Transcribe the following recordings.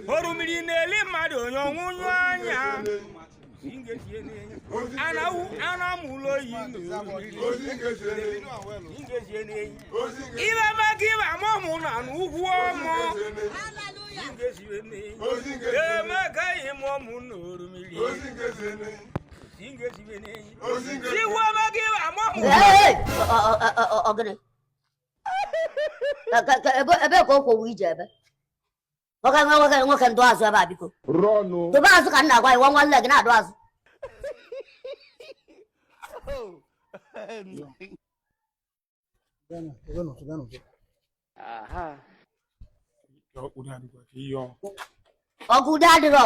orimiri na-eli mmadụ onye ọnwụnyụ anya anamụ ụlọ oyi ibe maka ibe amụmụ na n'ugwu ọmụ emekaghị m ọmụ na orimiri Hey! Ogene. Ka- ka- ka- ebe ebe ka o kwowu ije ebe nwoke nwe nwoke nwoke ndụ azụ ebe a biko Rọnụ. dobe azụ ka m na-agwa gị nwa nwanne gị na-adụ azụ Ka ọ kpụrụ adịkwa ka ihe ọ. ọgụ ude adịrọ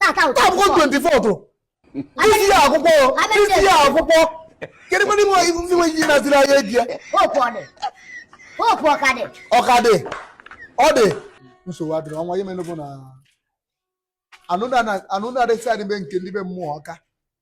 Tata ụtọ. Taa bụkwa 24 tụrụ. Isi ya akwụkwọ, isi ya akwụkwọ. Kedu mmadụ nwe ndị nwe ji naziri anya eji ya? Hope ọ dị. Hope ọ ka dị. Ọ ka dị. Ọ dị. Nsogbu adịrọ ọnwa ihe mere bụ na anụ na-adịsị adịbe nke ndị be mmụọ ọka.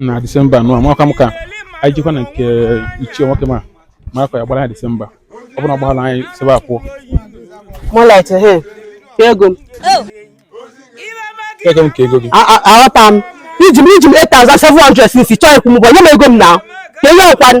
na disemba anụ amaka m ka anyị jikwa na nke ichie nwoke ma ma akwa ya gbara anyị disemba ọ bụrụ na ọ gbaghara anyị si ebe a pụọ Moonlight, ehe. Ka ego m. ego m ka ego gị A- a- Aghọta m. I ji m i ji m 8,700 since chọọ ịkwụ m ụgwọ nye m ego m na. Ka ihe ọkwanụ.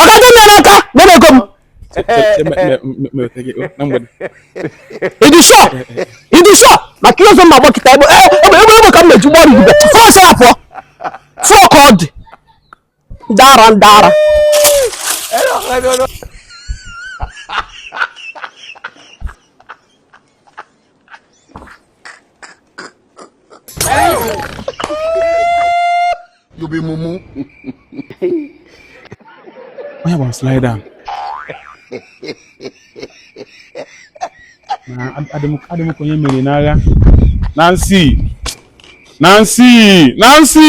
ọ ga-adị nne n'aka gbere ego m ị dị sure ị dị sure maka ihe ọzọ mma gbakịta egbe egbe egbe ka m na-eji gbọrọ igube fọ sara pụọ fọ ka ọ dị ndara ndara You be mumu. Onye bụ slide down. Na adịmụkọ onye mere n'agha. Nancy! Nancy! Nancy!